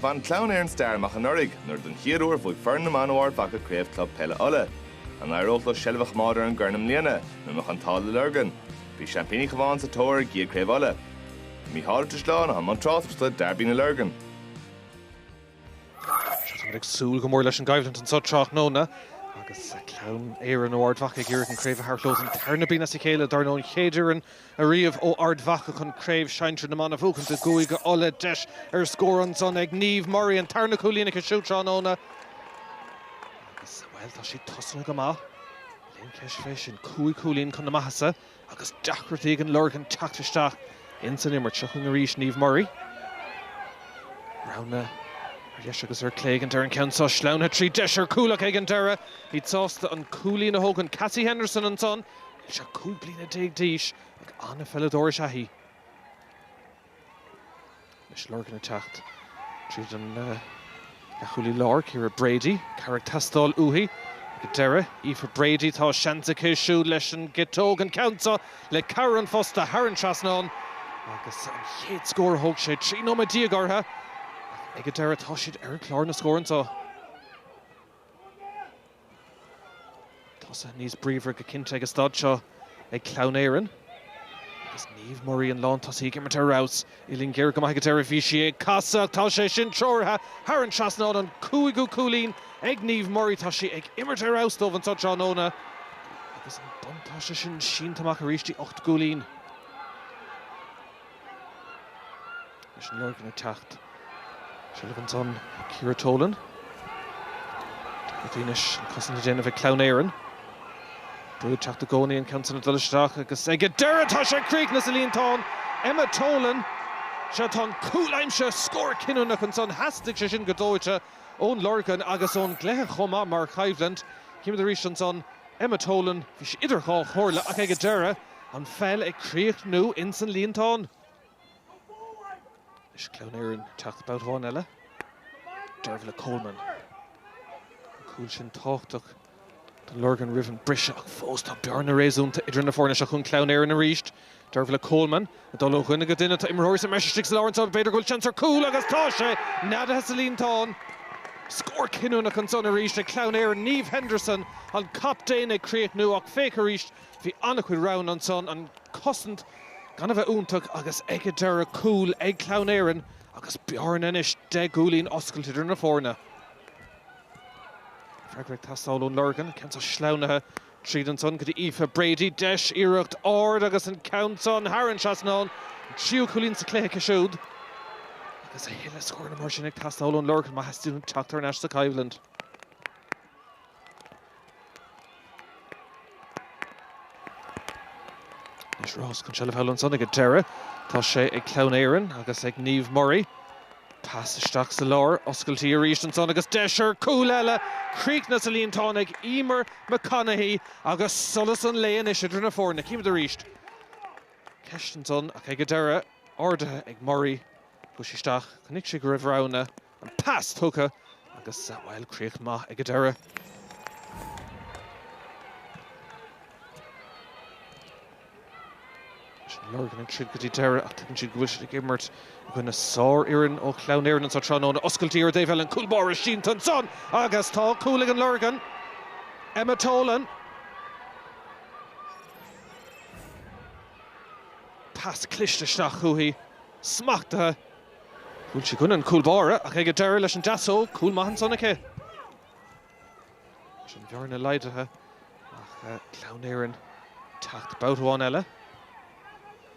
Bhain Clann Éireann stair amach anuraidh nuair don chéad uair bhuaigh foireann na mban ó Ard Mhacha Craobh Club Peile Uladh. An n-éireodh leo seilbh a choimeád ar an gcorn i mbliana nó an mbeadh an t-ádh leis an Lorgain? Bhí seaimpíní an Chabháin sa tóir ar a gcéad Chraobh Uladh. I mbun tráchtaireachta ar derby na Lorgan. Sea, táimid ag súil go mór leis an gcoimhlint anseo tráthnóna agus Clann Éireann ó Ard Mhacha ag iarraidh an chraobh a thabhairt leo don tarna bliain as a chéile, dar ndóigh an chéad fhoireann ariamh ó Ard Mhacha chun Craobh Shinsir na mBan a bhuachaint i gCúige Uladh, deis ar scór ansan ag Niamh Murray, an tarna cúilín aici siúd tráthnóna agus, bhuel, tá siad tosaithe go maith, níl aon cheist faoi sin. Cúig chúilín chun na maitheasa agus deacrachtaí ag an Lorgain teacht isteach ins an imirt. Seo chugainn arís Niamh Murray. Rogha ar dheis agus ar chlé ag an deireadh an ceann seo, sleamhnaithe tríd, deis ar chúl aici ag an deireadh, í sásta an cúilín a thógaint. Cassie Henderson ansan. Níl sí ach cúig bliana déag d'aois ach an-pheileadóir is ea í. Anois an Lorgain ag teacht tríd an leathchúlaí láir, Ciara Brady, cabhair ag teastáil uaithi ag an deireadh. Aoife Brady, tá seans aici siúd leis an gciotóg, an ceann seo le cabhair an phosta thar an trasnán agus an chéad scór, thóg sé trí nóiméad déag orthu ach ag an deireadh tá siad ar chlár na scór anseo. Tosaithe níos bríomhaire go cinnte ag an staid seo ag Clann Éireann agus Niamh Murray, an lántosaí ag imirt ar fheabhas. Uillinn ghéar go maith ag an deireadh, bhí sí ag casadh ach tá sé sin treoraithe thar an trasnán. An cúigiú cúilín ag Niamh Murray, tá sí ag imirt ar fheabhas dóibh anseo tráthnóna agus an buntáiste sin sínte amach arís go dtí ocht gcúilín. Anois an Lorgain ag teacht, seilbh ansan ag Ciara Tolan. Anois an chosaint á déanamh ag Clann Éireann. Brú ag teacht i gcónaí, an ceann san ag dul isteach agus ag an deireadh tá sé críochnaithe sa líontán! Emma Tolan. Sea, tá an cúl aimsithe, scór cinniúnach ansan. Theastaigh sé sin go dóite ón Lorgain agus ón gcluiche chomh maith mar choimhlint. Chímid arís ansan Emma Tolan, bhí sí idir dhá chomhairle ach ag an deireadh, An pheil ag críochnú ins an líontán. Anois Clann Éireann ag teacht babhta amháin eile. Dervla Coleman. An cúl sin tábhachtach don Lorgain roimh an mbriseadh ach fós tá bearna réasúnta idir na foirne. Seo chugainn Clann Éireann arís. Dervla Coleman ag dul ó dhuine go duine. Tá imreoirí sa mbreis istigh sa lár anso. B'fhéidir go bhfuil seans ar chúl agus tá sé neadaithe sa líontán. Scór cinniúnach ansan arís ag Clann Éireann. Niamh Henderson, an captaen ag críochnú ach féach arís Bhí an-chuid roghanna ansan, an chosaint gan a bheith iontach agus ag an deireadh cúl ag Clann Éireann agus bearna anois deich gcúilín oscailte idir na foirne. Freagra ag teastáil ón Lorgain, ceann seo sleamhnaithe tríd ansan go dtí Aoife Brady, deis, iarracht, ard agus an ceann san thar an trasnán, an tríú cúilín sa chluiche aici siúd. Agus a thuilleadh scóranna mar sin ag teastáil ón Lorgain má theastaíonn teacht thar n-ais sa choimhlint. Anois rás chun seilbh thall ansan ag an deireadh. Tá sé ag Clann Éireann agus ag Niamh Murray. Pas isteach sa lár, oscailtí arís ansan agus deis ar chúl eile! Críochnaithe sa líontán ag Eimear McConaghy agus solas an lae anois idir na foirne. Címid arís. Ceist ansan ach ag an deireadh, ardaithe ag Murray. Chuaigh sí isteach. Chonaic sí go raibh roghanna. An pas tugtha agus, bhuel, críoch maith ag an deireadh. Lorgan ag troid go dtí deireadh ach tuigeann siad go bhfuil siad ag imirt i gcoinne sárfhoireann ó Chlann Éireann anseo tráthnóna. Oscailtí ar a deabhal, cúl báire sínte ansan agus tá cúl ag an Lorgain, Emma Tolan. Pas cliste isteach chuici, smachtaithe. Bhuail sí i gcoinne an chúl báire ach ag an deireadh leis an deasóg, cúl maith ansan aici. Sin an bhearna laghdaithe ach Clann Éireann teacht babhta amháin eile.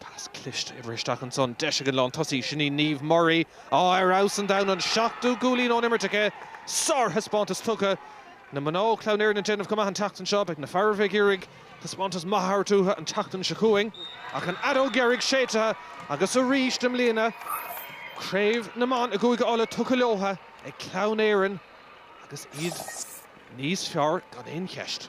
Pas cliste oibre isteach ansan, deis ag an lán tosaí, sin í Niamh Murray, á ar fheabhas an domhain, an seachtú gcúilín ón imirt aici. Sár-thaispeántas tugtha. Na mná ó Chleann Éireann ag déanamh go maith an tseachtain seo. Beidh na fearaibh ag iarraidh. Taispeántas maith a thabhairt uathu an tseachtain seo chugainn ach an fheadóg dheiridh séidthe agus arís i mbliana craobh na mban i gCúige Uladh tugtha leotha ag Clann Éireann agus iad níos fearr gan aon cheist.